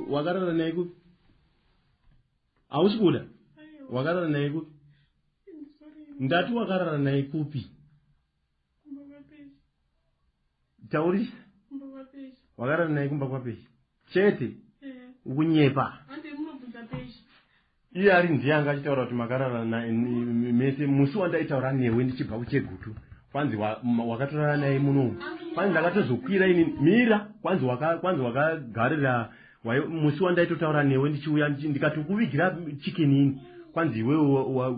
wakarara naye kupi hausi kuda wakarara naye kupi ndati wakarara naye kupi Kumba kwapeshi. Taurisa. Kumba kwapeshi. Wakarara naye kumba kwapeshi. Chete. Eh. Ukunyepa. Hande munobvunza peshi. Iye ari ndiye anga achitaura kuti makarara naye mese musi wandaitaura newe ndichibva kuchegutu. Kwanzi wakatorara naye muno. Kwanzi ndakatozokwira ini mira kwanzi waka kwanzi wakagarira wayo musi wandaitotaura newe ndichiuya ndikatokuvigira chicken ini. Kwanzi iwewe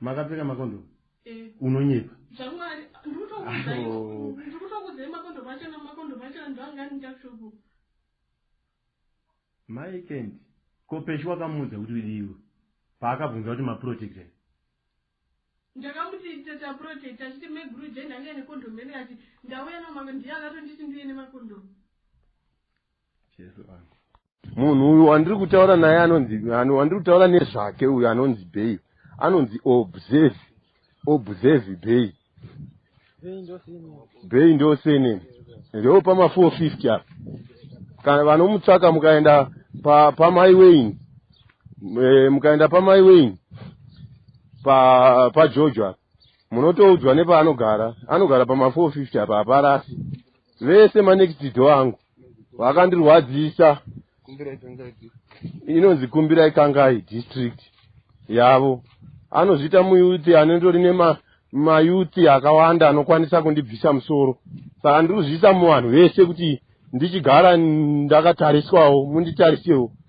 Makapfeka makondom? Eh. Unonyepa. Zvamwari ndikutokudzai. Ndikutokudzai makondom achana makondom achana ndangani ndakshoko. Mai Kent, ko Peshu wakamuudza kuti udiwe paakabvunza kuti maprotector? Ndakamuti teta protector achiti meguru je ndanga ine condom ene ati ndauya namakondom ndiye akatonditi ndiye nemakondom. munhu uyu wandiri kutaura naye anonzi wandiri kutaura nezvake uyu anonzi bay anonzi observe observe bay bay ndoseneni ndoo pama 450 apa kana vanomutsvaka mukaenda pamai wain eh, mukaenda pamai wain pajojo apa munotoudzwa nepaanogara anogara pama 450 apa haparasi vese manext door angu vakandirwadzisa inonzi kumbirai kangai district yavo anozviita muyuti anendori nema mayuti akawanda anokwanisa kundibvisa musoro saka ndiri kuzviisa muvanhu vese kuti ndichigara ndakatariswawo munditarisewo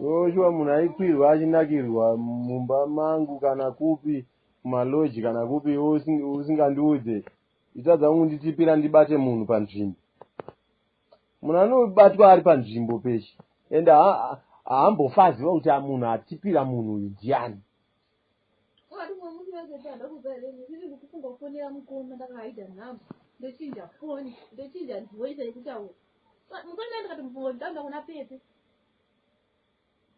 Joshua munhu aikwirwa achinakirwa mumba mangu kana kupi kumaloji kana kupi usingandiudze itadza kunditipira ndibate munhu panzvimbo munhu anobatwa ari panzvimbo peshe ende haambofaziva kuti munhu atipira munhu uyu ndiani Ko ari umwe munhu wazoti hada kuza here ini ndiri kufunga kufonera mukoma ndakahaida nhamba ndochinja foni ndochinja voice yekutaura mukoma ndikati mufunga kuti ndauda kuna pepe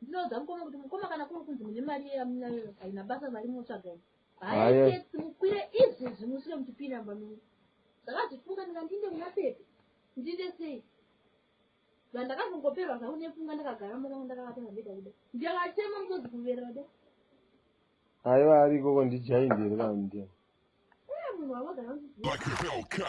ndinoudza mukoma kuti mukoma kana kuri kunzi mune mari yeyamunayo haina basa mari munotsvaga ini haitex mukwire izvi zvimusvire muchipinda mbamini ndakazvifunga ndikandinde kuna pepe ndiite sei Saka ndakazongoperwa zvangu nepfungwa ndakagara mumba mangu ndakavata pabhedha kuda. Ndakachema musozi kuverera kuda. Aiwa ari ikoko ndijaindiri kana ndiye. Eh munhu wamagara uchiziva.